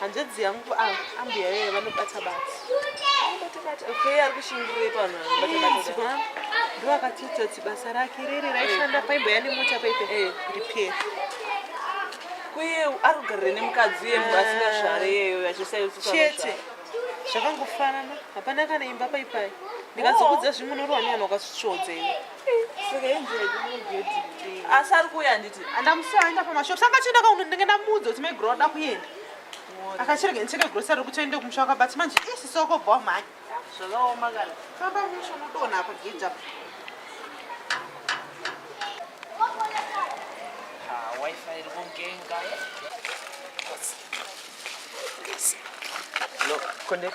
hanzvadzi yangu ah, ambuya vee vanobata bata okay ari kushingirei panhu anobatabata ndo akatiudza kuti basa rake riri raishanda paimbo yane mota paipe eh. repair kuye ari kugarire nemukadzi uye munhu asingazvare iyeyo achisaiochete zvakangofanana hapana kana imba paipai ndikazokudza zvimunorwani vanhu wakasvitsvodza iwe asi ari kuuya handiti andamusiya aenda pamashop saka achienda kauno ndenge ndamuudza kuti maigro ada kuenda akachirega ndicheke grocery kuti aende kumusha waka but manje isi soko bwa mhanya zvakaoma kana famba musha unodona apa gate apa ah, wifi iri kungenga Look, connect.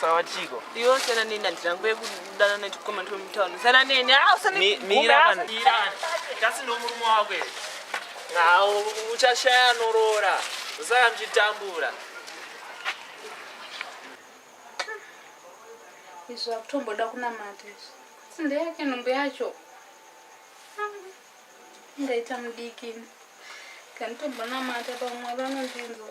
sawa chiko iwe usiyana neni handi rangu yekudana nechikomana twemutauni usiyana neni ah, usanmirasi nomurume wako ere nawo uchashaya anoroora usaya muchitambura izvo akutomboda kunamata izvo asi ndeyake nhumbu yacho ndaita mudiki kanditombonamata pamwe vanondinzwa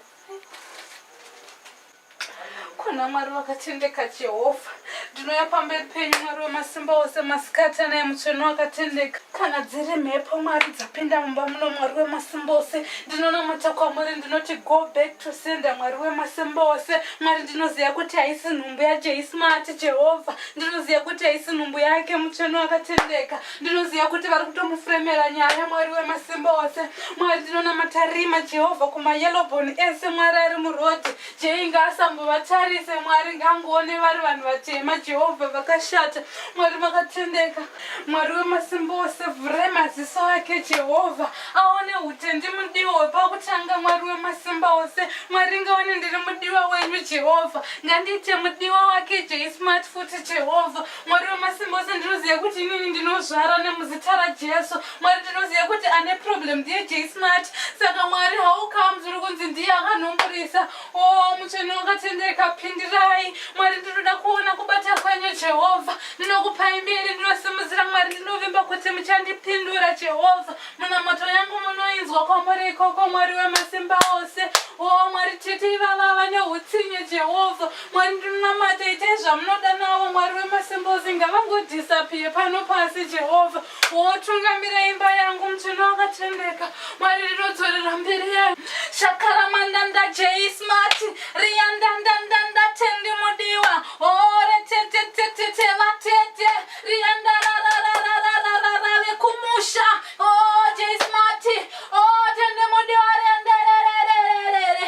kuna mwari vakatendeka jehovha ndinouya pamberi penyu mwari wemasimba ose masikati anaye mutsvene wakatendeka kana dziri mhepo mwari dzapinda mumba muno mwari wemasimba ose ndinonamata kwamuri ndinoti go back to sender mwari wemasimba ose mwari ndinoziva kuti haisi nhumbu yajeismati jehovha ndinoziva kuti haisi nhumbu yake mutsvene wakatendeka ndinoziva kuti vari kutomufuremera nyaya mwari wemasimba ose mwari ndinonamata rima jehovha kumayelobon ese mwari ari murodi jei ngaasambovatarise mwari ngangoone vari vanhu vatema jehovha vakashata mwari makatendeka mwari wemasimba ose vhurai maziso ake jehovha aone utendi mudiwa wepakutanga mwari wemasimba ose mwari ngaone ndiri mudiwa wenyu jehovha ngandiite mudiwa wake jei smart futi jehovha Mwari wemasimba ose ndinoziva kuti inini ndinozvara nemuzita rajesu mwari ndinoziva kuti ane problem ndiye jsmart saka mwari how comes uri kunzi ndiye akanhumburisa o oh, mutsvene wakatendeka pindirai mwari ndinoda kuona kubata kwenyu jehovha ndinokupai mberi ndinosimudzira mwari ndinovimba kuti muchandipindura jehovha munamoto yangu munoinzwa kwamuri ikoko mwari wemasimba ose o oh, mwari tete ivava vane utsinye jehovha Mwari ndinonamata itai zvamunoda navo mwari wemasimbozi ngavangodhisapiye pano pasi jehovha wotungamira imba yangu mutsvene wakatendeka mwari rinodzorera mberi yangu shakaramandanda jeismati riyandandandanda tendi mudiwa ore tetetetete vatete riyandararararararara vekumusha o jeismati o tendi mudiwa riyandarararararara